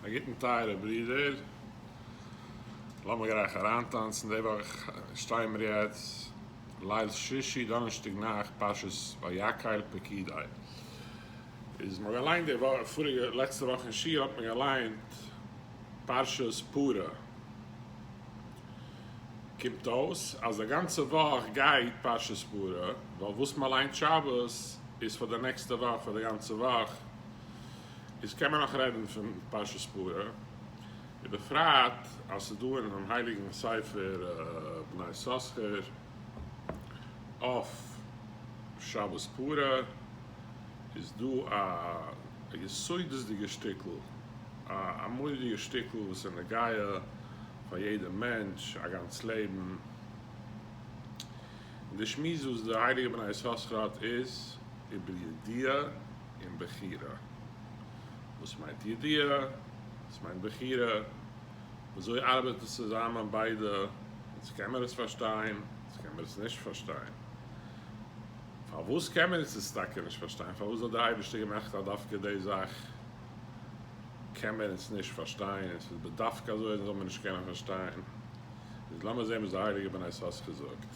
א גוטן טייערע ברודער, לאמיר גלייך אריינטאנצן, די וואך שטייען מיר יעצט ליל שישי, דאנערשטאג נאכט, פרשת ויקהל פרקיד עא, איז מ'האט געליינט די וואך, פאריגע, לעצטע וואך אין שיעור האט מען געליינט פרשת פרה, קומט אויס אז די גאנצע וואך גייט פרשת פרה, ווייל וואס מ'ליינט שבת איז פאר די נעקסטע וואך, פאר די גאנצע וואך. איז קען מען נאך רעדן פון פרשת פרה, ובפרט אז ס'איז דא אינעם הייליגן ספר בני יששכר אויף שבת פרה איז דא א יסודות'דיגע שטיקל, א אמור'דיגע שטיקל וואס איז נוגע פאר יעדע מענטש א גאנץ לעבן, און די שמועס וואס די הייליגע בני יששכר האט איז איבער ידיעה, און בחירה. וואס מיינט ידיעה? וואס מיינט בחירה? וויאזוי ארבעט עס צוזאמען ביידע? וואס קען מען עס פארשטיין? וואס קען מען עס נישט פארשטיין? פארוואס קען מען עס טאקע נישט פארשטיין? פארוואס האט דער אייבערשטער געמאכט אז דווקא די זאך קען מען עס נישט פארשטיין? און עס איז בדווקא אזוי אז עס זאל מען נישט קענען פארשטיין? איז לאמיר זען וואס די הייליגע בני סאס געזאגט.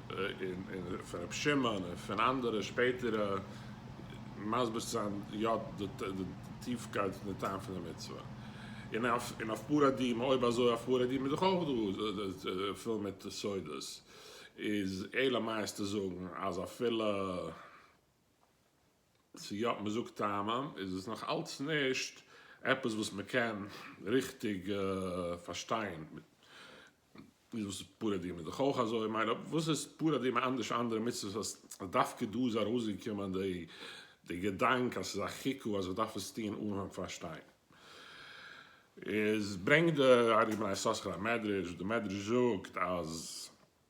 און פון ר' שמעון און פון אנדערע שפעטערע מסביר צו זיין יא די טיפקייט און די טעם פון די מצוה. און אויף פורעדים, אויב אזוי אויף פורעדים איז דאך אויך דא פול מיט סודות, איז אלא מאי איז צו זאגן אז אפילו. צו יא מען זאגט טעמים איז עס נאך אלץ נישט עפעס וואס מען קען ריכטיג פארשטיין איז וואס איז פרה אדומה דאך אויך אזוי מיין וואס איז פרה אדומה אנדערש ווי אנדערע מצוות אז דווקא דא איז ארויסגעקומען די געדאנק אז ס'איז א חיקו אז איך דארף עס טוהן אהן פארשטיין איז ברענגט די ארי בן יששכר א מדרש די מדרש זאגט אז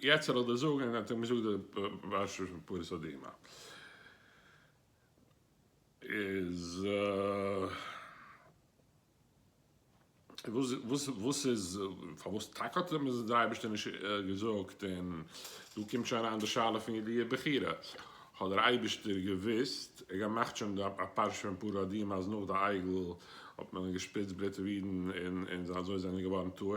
יעצט זאל ער דיר זאגן און ער האט אים געזאגט די פרשה פון פרת הדומם איז וואס וואס איז פארוואס טאקע האט אים די אייבערשטער נישט געזאגט און דא קומט שוין אריין די שאלה פון ידיעה בחירה האט דער אייבערשטער געוואוסט ער געמאכט שוין די פרשה פון פרת הדומם אז נאך די עגל האט מען געשפריצט בלוט אויף אידן און און אזוי זענען זיי געווארן טהור.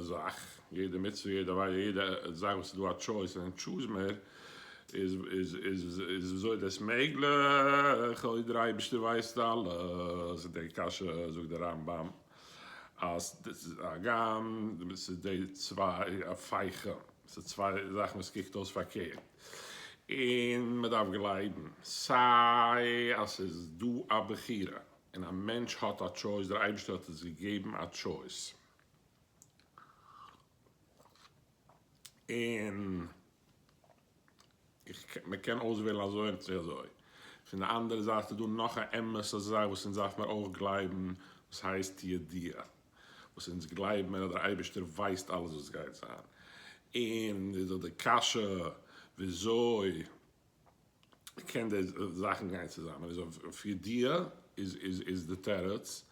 זאך, יעדע מצוה, יעדע עבירה, יעדע זאך וואס איז דא א טשויס און טשוז מער, איז איז וויאזוי איז דאס מעגליך אויב דער אייבערשטער ווייסט אלעס? און די קשיא זאגט דער רמב ם אז הגם ס'איז די צוויי הפכה, ס'איז צוויי זאכן וואס קוקט אויס פארקערט, און מען דארף גלייבן סיי אז ס'איז דא א בחירה און א מענטש האט א טשויס, דער אייבערשטער האט אונז געגעבן א טשויס, און איך קען מען קען אויסוועלן אזוי און צו אזוי. פון די אנדערע זייט איז דא נאך א אמת'ע זאך וואס אונז דארף מיר אויך גלייבן וואס הייסט ידיעה וואס אונז גלייב מיר אז דער אייבערשטער ווייסט אלעס וואס גייט זיין און איז דא די קשיא וויאזוי קען די זאכן גיין צוזאמען איז אויף פיר דיע איז די תירוץ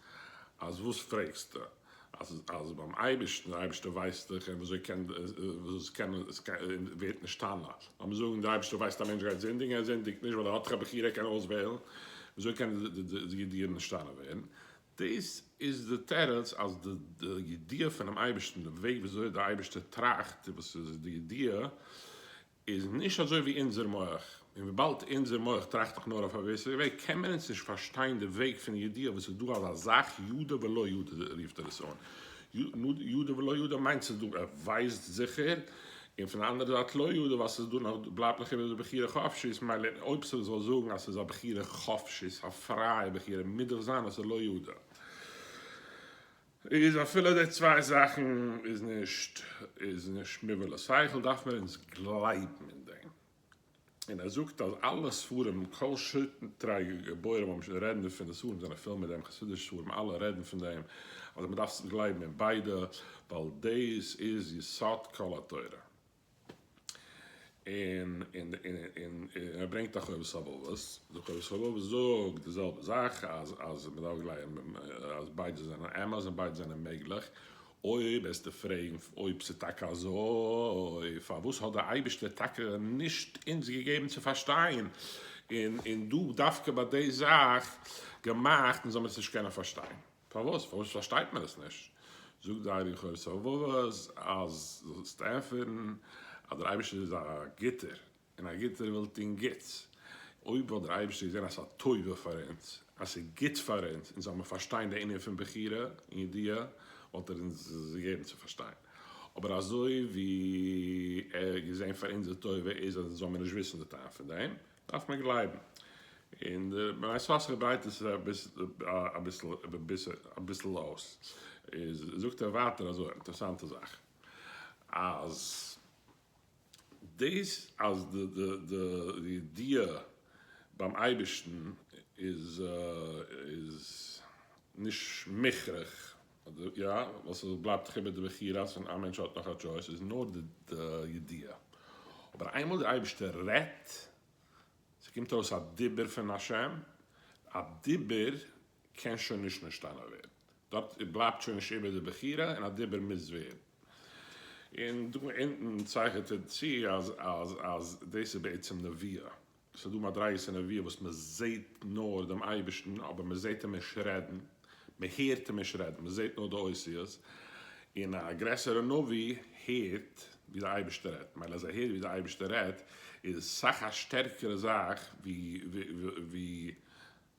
אז וואס פרעגסטו אז ביים אייבערשטן די אייבערשטער ווייסט דאך און וויאזוי קען וואס קען עס ווערט נשתנה לאמיר זאגן די אייבערשטער ווייסט א מענטש גייט זינדיגן ער זינדיגט נישט ווייל ער האט דאך א בחירה ער קען אויסוועלן וויאזוי קען די ידיעה נשתנה ווערן דאס איז די תירוץ אז די ידיעה פונעם אייבערשטן די וועג וויאזוי די אייבערשטער טראכט און וואס איז די ידיעה. איז נישט אזוי ווי אונזער מח, און וויבאלד אונזער מח טראכט דאך נאר אויף א געוויסע וועג, קען מען אונז נישט פארשטיין די וועג פון ידיעה וואס איז דא אזא זאך ידע ולא ידע רופט ער עס אן, ידע ולא ידע מיינט ס'איז דא ער ווייסט זיכער, און פון די אנדערע זייט לא ידע ווייל ס'איז דא נאך בלייבט נאך איבער די בחירה חפשית, מילא אויב ס'זאל זאגן אז ס'איז א בחירה חפשית א פרייע בחירה מוז דאך זיין אז ס'איז לא ידע. איז אפילו די צוויי זאכן איז נישט איז נישט מובא לשכל דארף מען אונז גלייבן אין דעם. און ער זאגט אז אלע ספרים כל שטרי גבורים האבן שוין רעדן דערפון די ספרים זענען פול מיט דעם חסידישע ספרים אלע רעדן פון דעם אז מען דארף גלייבן אין ביידע ווייל דאס איז יסוד כל התורה. און ער ברענגט א חובת הלבבות, די חובת הלבבות זאגט די זעלבע זאך, אז מען דארף גלייבן אז ביידע זענען אמת און ביידע זענען מעגליך, אויב וועסטו פרעגן אויב ס'איז טאקע אזוי, פארוואס האט דער אייבערשטער טאקע נישט אונז געגעבן צו פארשטיין, און דא דווקא ביי די זאך געמאכט, אונז זאל מיר עס נישט קענען פארשטיין? פארוואס? פארוואס פארשטייט מען עס נישט? זאגט זיי די חובת הלבבות אז דו זאלסט ענטפערן אז דער אייבערשטער איז א גוטער, און א גוטער וויל טון גוטס, אויב וואלט דער אייבערשטער געזען אז ס'איז א טובה פאר אונז, אז ס'איז גוט פאר אונז, אונז זאל מען פארשטיין די ענין פון בחירה און ידיעה, וואלט ער אונז עס געגעבן צו פארשטיין, אבער אזוי ווי ער האט געזען פאר אונזער טובה איז אז אונז זאל מיר נישט וויסן די טעם פון דעם. דארף מען גלייבן אין די בני ישראל אשר דרייט עס אביסל אויס איז זאגט ער ווייטער אזוי אינטערעסאנטע זאך אז דאס אז די ידיעה ביים אייבערשטן איז נישט מוכרח אדער יא, וואס עס בלייבט חיבער די בחירה אז ווען א מענטש האט נאך א טשויס איז נאר די ידיעה. אבער איינמאל דער אייבערשטער רעדט, ס'קומט אויס א דיבור פון השם, א דיבור קען שוין נישט נשתנה ווערן, דארט בלייבט שוין נישט איבער די בחירה און א דיבור מוז ווערן. און דא אונטן צייכענט ער צו אז דאס איז בעצם נביאה, עס איז דא מדריגות אין נביאה וואס מען זעט נאר דעם אייבערשטן אבער מען זעט אים נישט רעדן, מען הערט אים נישט רעדן, מען זעט נאר די אותיות, און א גרעסערע נביא הערט ווי די אייבערשטער רעדט, מילא אז ער הערט ווי די אייבערשטער רעדט איז סאך א שטערקערע זאך ווי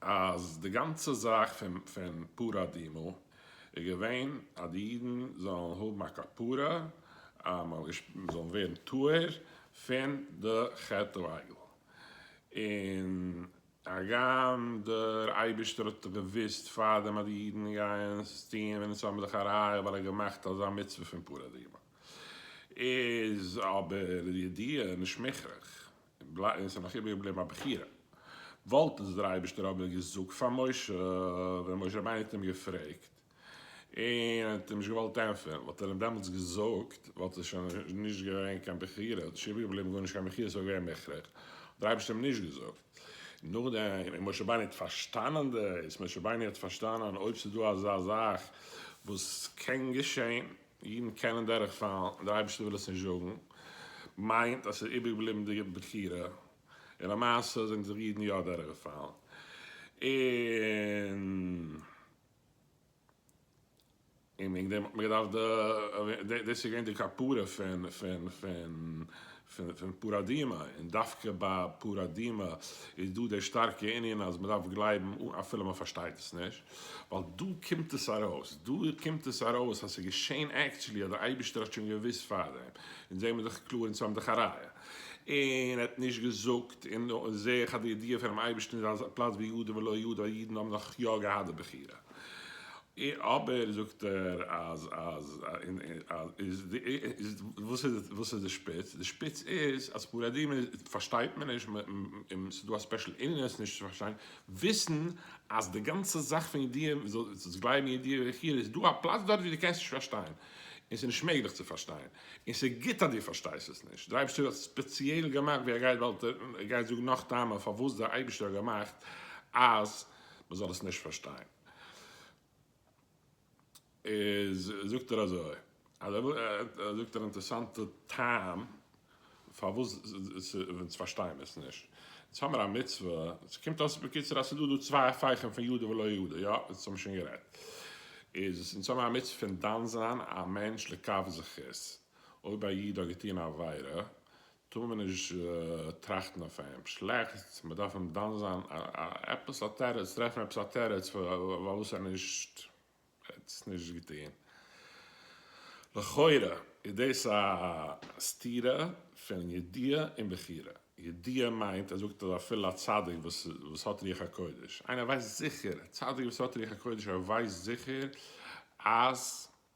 אז די גאנצע זאך פון פרה אדומה איז געווען אז די אידן זאלן האבן א כפרה, זאלן ווערן טהור פון די חטא העגל, און הגם דער אייבערשטער האט דאך געוואוסט פארדעם אז די אידן גייען עס טון ווען עס האבן זיך א ראיה ווייל ער האט געמאכט אזא מצוה פון פרה אדומה, איז אבער די ידיעה נישט מוכרח. און ס'איז נאך איבער געבליבן א בחירה, וואלט עס דער אייבערשטער אבער געזאגט פאר משה, ווען משה רבינו האט אים געפרעגט און ער האט אים נישט געוואלט ענטפערן, וואלט ער אים דעמאלטס געזאגט, וואלט עס שוין נישט געווען קיין בחירה, האט נישט איבער געבליבן גארנישט קיין בחירה, ס'וואלט געווען מוכרח, האט דער אייבערשטער אים נישט געזאגט, נאכדעם און משה רבינו האט פארשטאנען דאס, משה רבינו האט פארשטאנען אויב ס'איז דא אזא זאך וואס קען געשען, אידן קענען דורך פאלן, דער אייבערשטער וויל עס נישט זאגן, מיינט אז עס איז איבער געבליבן די בחירה, און למעשה זענען זיך אידן יא דורך געפאלן, און וועגן דעם האט מען געדארפט די, דאס איז געווען די כפרה פון פון פאראדימע, און דווקא ביי פאראדימע איז דא דער שטארקע ענין אז מען דארף גלייבן אפילו מען פארשטייט עס נישט, ווייל דא קומט עס ארויס, דא קומט עס ארויס אז ס'איז געשען עקטשולי אז דער אייבערשטער האט שוין געוואוסט פארדעם, אונז זעמיר דאך קלאר אונז האבן דאך א ראיה, און ער האט נישט געזאגט, און זעה איך אז די ידיעה פונעם אייבערשטן איז אז פלאץ ביהודה ולא יהודה, אידן האבן נאך יא געהאט די בחירה. אבער זאגט ער אז אז איז וואס איז וואס איז די שפיץ? די שפיץ איז אז פורים איז פארשטייט מען נישט און ס'איז דא א ספעשל ענין עס נישט צו פארשטיין, וויסן אז די גאנצע זאך פון ידיעה זאלסט גלייבן ידיעה וכו' איז דא א פלאץ דארט ווי דו קענסט נישט פארשטיין און ס'איז נישט מעגליך צו פארשטיין און ס'איז גוט אז דו פארשטייסט עס נישט, דער אייבערשטער האט ספעציעל געמאכט ווי ער גייט וועלט ער גייט זאגן נאך טעמים פארוואס דער אייבערשטער האט געמאכט אז. מען זאל עס נישט פארשטיין, איז זאגט ער אזוי, אז ער ער זאגט אן אינטערעסאנטע טעם פארוואס אונז פארשטייען עס נישט, אונז האמער א מצוה, עס קומט אויס בקיצור אז ס'דא דא צוויי הפכים פון ידע ולא ידע, יא, דאס האמיר שוין גערעדט, איז אונז האמער א מצוה פון דן זיין א מענטש לכף זכות, אויב א איד האט געטון א עבירה, טאר מען נישט טראכטן אויף אים שלעכטס, מען דארף אים דן זיין עפעס א תירוץ, טרעפן עפעס א תירוץ פארוואס ער נישט האט עס נישט געטון. לכאורה איז דאס א סתירה פון ידיעה און בחירה. ידיעה מיינט ער זאגט אז אפילו א צדיק וואס האט רוח הקודש, איינער ווייסט זיכער, א צדיק וואס האט רוח הקודש ער ווייסט זיכער אז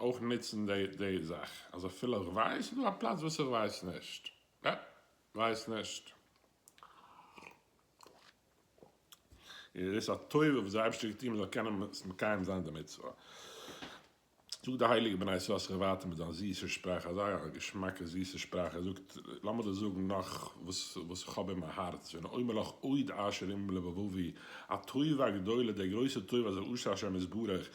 אויך נוצן די זאך אז אפילו איך ווייס איז דא א פלאץ וואס איך ווייס נישט יעפ ווייס נישט איז דאס א טובה וואס דער אייבערשטער גיבט איהם זאל קענען מקיים זיין די מצוה זאגט די הייליגע בני ישראל זיך ווייטער מיט זיין זיסע שפראך אזא געשמאקע זיסע שפראך ער זאגט לאמיר דיר זאגן נאך וואס וואס איך האב אין מיין הארץ ואני אומר לך עוד אשר עם לבבבי א טובה גדולה די גרויסע טובה אשר עשה השם יתברך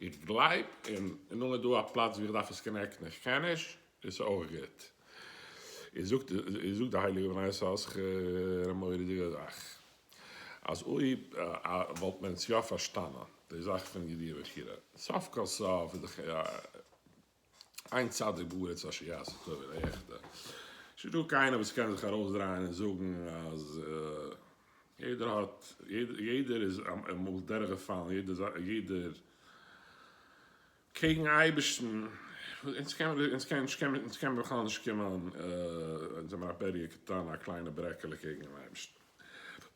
איך גלייב אין נאר איז דא א פלאץ ווי איך דארף עס קאנעקטן איך קען נישט איז אויך גוט איז זאגט איז זאגט די הייליגע בני יששכר א מורא'דיגע זאך אז אויב וואלט מען עס יא פארשטאנען די זאך פון ידיעה בחירה סוף כל סוף איז דאך א. איין צדיק בארץ אשר יעשה טוב און א עכטע. ס'איז נישטא קיינער וואס קען זיך ארויסדרייען און זאגן אז יעדער האט, יעדער איז אמאל דורכגעפאלן, יעדער קעגן אייבערשטן. אונז קען מען, אונז קען, אונז קען מען בכלל נישט קומען, אונז זעמער א בעריע קטן, א קליינע ברעקעלע קעגן אייבערשטן.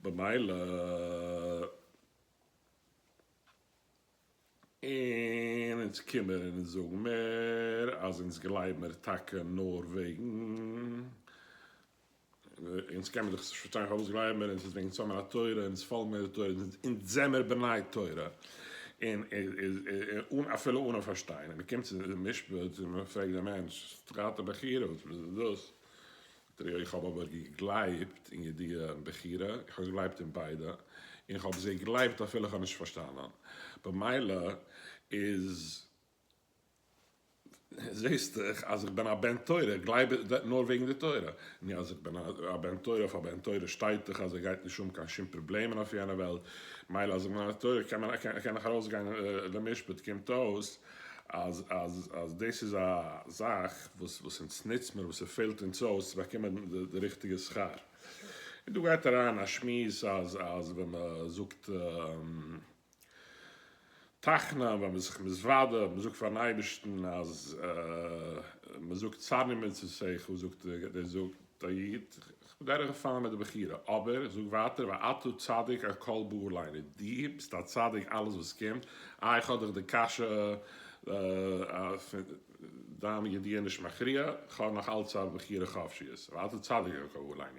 במילא. און אונז קומען און אונז זאגן מער אז אונז גלייב מיר טאקע נאר וועגן, אונז קען מען דאך נישט פארשטיין פארוואס גלייב מיר אונז איז וועגן ס'האמיר א תורה אונז פאלגן מיר די תורה אונז זעמיר בני תורה און און אפילו אנע פארשטיין און מ'קומט צו די משפט און מ'פרעגט די מענטש תרתי בחרב וואס איז דאס דרעי איך האב אבער געגלייבט אין ידיעה און בחירה, איך האב געגלייבט אין ביידע, און איך האב זיי געגלייבט אפילו איך האב נישט פארשטאנען, במילא איז זעהסט דאך אז איך בין א בן תורה, איך גלייב נאר וועגן די תורה, נו אז איך בין א בן תורה אויף א בן תורה שטייט דאך אז ער גייט נישט האבן קיין שום פראבלעמען אויף יענע וועלט, מילא אז איך בין א תורה קען איך ארויסגיין למשפט, קומט אויס אז אז אז דאס איז א זאך וואס וואס אונז נוצט מיר וואס ס'פעלט אונז אויס צו באקומען די ריכטיגע שכר. און דא גייט אריין א שמועס אז אז ווען מ'זאגט תחנון ווען מ'איז זיך מתוודה און מ'זאגט פארן אייבערשטן אז מ'זאגט צד ממצוותיך זאגט דער זאגט טעית, איך בין דורך געפאלן מיט די בחירה, אבער איך זאג ווייטער ואתה צדיק על כל באו עלינו, דו ביסט א צדיק אלעס וואס קומט, אה איך האב דיך די קשיא דיין ידיעה נישט מכריע, איך האב נאך אלץ א בחירה חופשיות, ואתה צדיק על כל באו עלינו,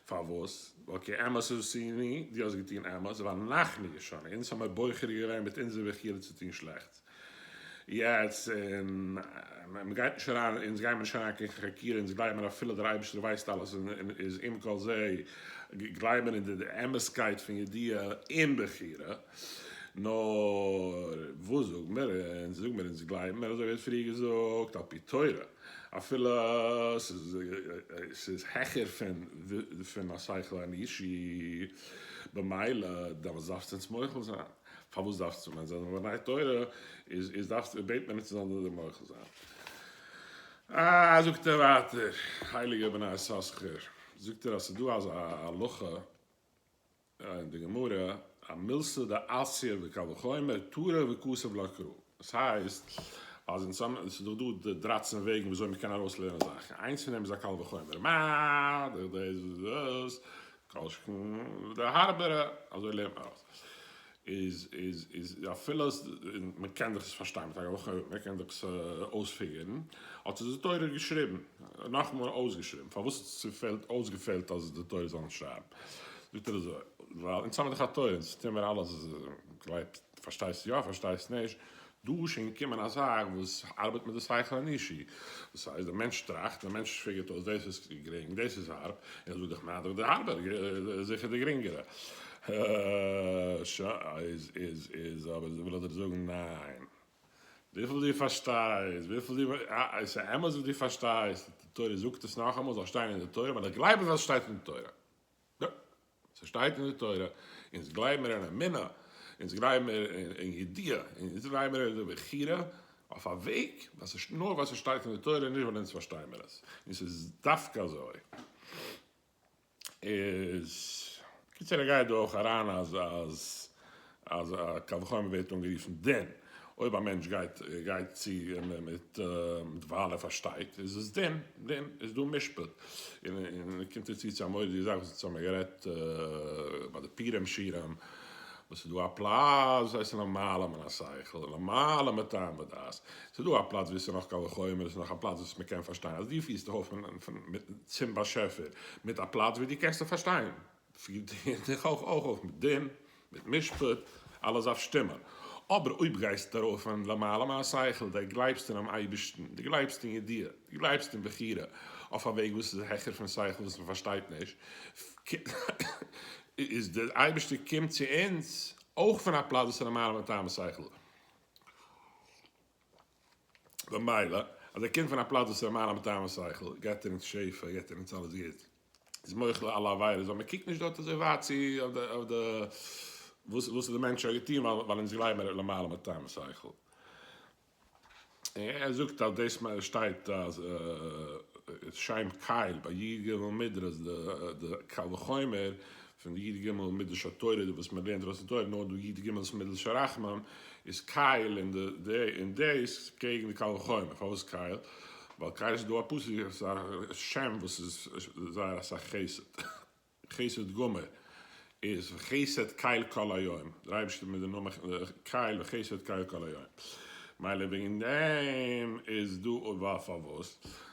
פארוואס? ווייל כי אמת עשינו, דו האסט געטון אמת, ואנחנו ישרנו, אונז האמיר בוחר געווען מיט אונזער בחירה צו טון שלעכטס. יעצט און מען גייט נישט אריין אונז גיימער נישט אריין קיין חקירה אונז גלייבן אפילו דער אייבערשטער ווייסט אלעס און איז עם כל זה גלייבן אין די אמת'קייט פון ידיעה און בחירה נאר וואס זאג מיר אונז זאג מיר אונז גלייבן מיר אזוי ווי ער האט פריער געזאגט על פי תורה אפילו ס'איז העכער פון השכל האנושי במילא דארף עס אונז מוחל זיין. פארוואס דארפסטו ווען זיי זענען לומדי תורה איז איז דארפסטו בעט מען נישט זיי זאלן דיר מוחל זיין. אה זאגט ער ווייטער הייליגער בן יששכר זאגט ער אז ס'איז דא אזא הלכה אין די גמרא א מילסא דעסיא וקל וחומר תורה וכסף לא קרא דאס הייסט אז אין סאמע עס איז דאך דא די דרייצן וועגן ווי אזוי מען קען ארויס לערנען זאכן, איינס פון דעם איז א קל וחומר מ דורך דאס און דאס, כל שכן די הארבערע, אזוי לערנט מען ארויס, איז איז איז אפילו אז מען קען דאך עס פארשטיין מיט א קל וחומר מ קען דאך עס אויספיגערן, האט עס די תורה געשריבן, נאכמאל אויסגעשריבן, פארוואס האט עס צופעלט אויסגעפעלט אז די תורה זאל נישט שרייבן? זאגט ער אזוי, ווייל אונז האבן דאך א תורה, אונז טוען מיר אלעס וואס גלייבט. פארשטייסט יא פארשטייסט נישט, דא איז שוין געקומען א זאך וואס ארבעט מיט די שכל האנושי, דאס הייסט דער מענטש טראכט, דער מענטש פיגערט אויס דאס איז גרינג דאס איז הארב, און ער זאגט דאך ניידערער די הארבער איז זיכער די גרינגערע, ש איז איז איז אבער וויל איך דיר זאגן ניין, וויפיל דו פארשטייסט וויפיל דו א עס איז אמת וואס דו פארשטייסט, די תורה זאגט עס נאכאמאל זאל שטיין אין די תורה, ווייל איך גלייב אז עס שטייט אין די תורה. ס'שטייט אין די תורה, אונז גלייב מיר אין אמונה, אונז גלייב מיר אין ידיעה, אונז גלייב מיר אין די בחירה, אויף א וועג, נאר ווייל ס'שטייט אין די תורה, נישט ווייל אונז פארשטיי מיר עס, און ס'איז דווקא אזוי, איז, קיצור איך גיי דא אויך אריין אז אז. אז א קל וחומר ווערט אנגערופן דין, אויב א מענטש גייט גייט צו מיט ווייל ער פארשטייט איז עס דין, דין איז דא משפט, און און קומט ער צו צו א מורא'דיגע זאך וואס האבן מיר גערעדט ביי די פורים שירים, וואס איז דא א פלאץ וואס איז למעלה מן השכל און למעלה מטעם ודעת, ס'איז דא א פלאץ ווי ס'איז נאך קל וחומר און ס'איז נאך א פלאץ וואס מ'קען פארשטיין, אז דו פירסט דיך אויף צום באשעפער מיט א פלאץ ווי דו קענסט אים פארשטיין. פירט איר דיך אויך אויף מיט דין, מיט משפט, אלעס דארף שטימען. אבער אויב גייסטו ארויף און למעלה מהשכל, די גלייבסט אינעם אייבערשטן, די גלייבסט אין ידיעה, די גלייבסט אין בחירה, אויף א וועג וואס איז העכער פון שכל וואס מען פארשטייט נישט, איז די אייבערשטער קומט צו אונז אויך פון א פלאץ וואס איז למעלה מטעם השכל. במילא, אז ער קומט פון א פלאץ וואס איז א מעלה מטעם השכל, געבט ער אונז שפע, געבט ער אונז אלעס גוט, איז מוחל על אלע עבירות, ווייל מען קוקט נישט דארט אזוי ווייט צו אויף די וואס וואס האט די מענטש שוין געטון, ווייל אונז גלייבן ער איז למעלה מטעם השכל. ער זאגט אז דאס שטייט אז שם קייל ביי י ג מדרש די קל וחומר פון די י ג מדרש התורה וואס מען לערנט דארט אין תורה נאר די י ג איז מדרש הרחמן איז קייל אין אין דעיס קעגן די קל וחומר פארוואס קייל ווייל קייל איז דא א פסוק איז א שם וואס איז זייער אסאך חסד חסד גמור איז וחסד קייל כל היום דער אייבערשטער מיט די נאמען קייל וחסד קייל כל היום מילא וועגן דעם איז דא ווייל פארוואס.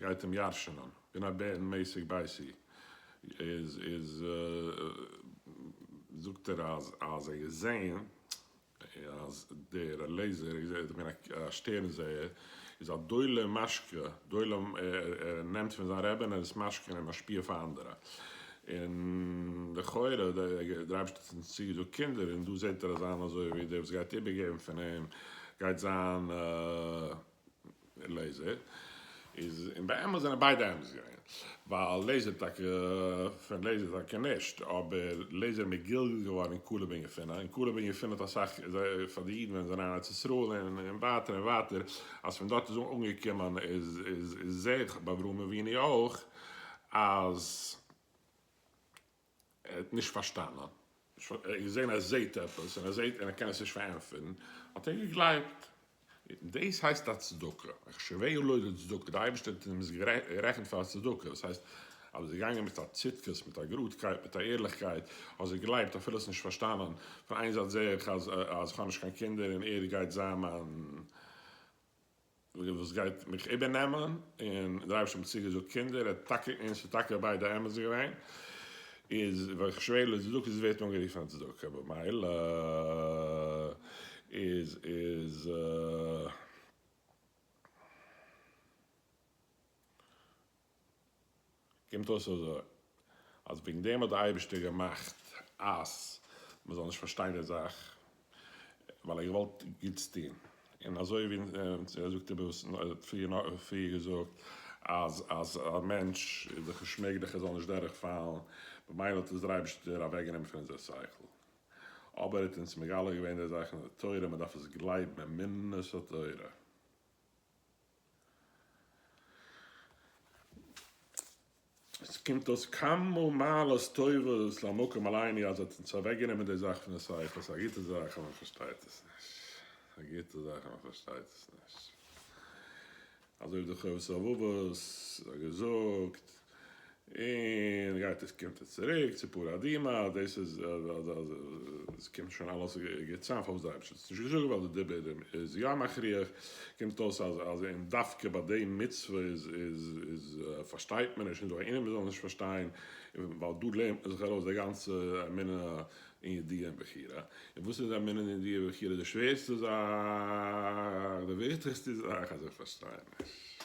גייט אים ירש'נען ווען א בער אין מעסיק בייסיק איז איז זאגט ער אז אז ער געזעהן אז דער לעזער איז ער געווען א שטערן זעהער איז א דולה משקה דולה ער נעמט פון זיין רעבין ער עס משקה און משפיע פאר אנדערע און לכאורה דער אייבערשטער האט אונז צוגעזאגט קינדער און דא זעהט ער אז זיין אזוי ווי דער וואס גייט איבערגעבן פון אים גייט זיין. לעיזער איז און באמת זענען ביידע אמת געווען ווייל לעיזער טאקע פון לעיזער טאקע נישט אבער לעיזער איז מגולגל געווארן אין קאלוב און יפונה און קאלוב און יפונה האט אסאך פאר די אידן ווען זיי זענען אין ארץ ישראל און ווייטער און ווייטער אז פון דארט איז אנגעקומען איז איז זעה איך ביי אברהם אבינו אויך אז ער האט נישט פארשטאנען, ער האט געזען ער זעט עפעס און ער זעט און ער קען עס נישט פארענטפערן, האט ער געגלייבט. דאס הייסט א צדקה, החשביה לו לצדקה, דער אייבערשטער האט אים עס גערעכנט פאר א צדקה, דאס הייסט אז ביסט געגאנגען מיט א צדקות, מיט א גראדקייט, מיט א ערליכקייט, האסט געגלייבט אפילו האסט נישט פארשטאנען, פון איין זייט זע איך אז איך האב נישט קיין קינדער און ער גייט זיין מיין. וויגען וואס גייט מיך איבערנעמען, און דער אייבערשטער האט מיר צוגעזאגט קינדער, ער האט טאקע, און עס איז טאקע ביידע אמת געווען, איז ווען איך שווער לע צדקות עס ווערט אנגערופן א צדקה, במילא איז איז. קומט אויס אזוי, אז וועגן דעם האט דער אייבערשטער געמאכט אז מען זאל נישט פארשטיין די זאך, ווייל ער האט געוואלט גוטס טון, און אזוי ווי ער זאגט עפעס, ער האט פריער געזאגט אז אז א מענטש איז דאך נישט מעגליך ער זאל נישט דורך פאלן, ממילא האט עס דער אייבערשטער אוועק גענומען פון אונזער שכל, אבער ער האט אונז מגלה געווען די זאך אין די תורה, מען דארף עס גלייבן, אמונת התורה. עס קומט אויס כמה מעלות טובות למקום אלייני אז האט אונז אוועק גענומען די זאך פון די ספר, ס'איז א גוטע זאך אז מען פארשטייט עס נישט, א גוטע זאך אז מען פארשטייט עס נישט, אזוי ווי די חובת הלבבות האט געזאגט. און גייט עס קומט עס צוריק צו פרה אדומה, דאס איז עס קומט שוין אלעס געצאם פארוואס די אייבערשטער האט עס נישט געזאגט ווייל די דיבור איז יא מכריח, קומט אויס אז אז און דווקא ביי די מצוה איז איז איז פארשטייט מען נישט און זאגן ענינים מען זאל נישט פארשטיין, ווייל דא לערנט מען זיך ארויס די גאנצע אמונה אין ידיעה און בחירה, און וואס איז אמונה און ידיעה און בחירה די שווערסטע זאך, די וויכטיגסטע זאך אז איך פארשטיי נישט.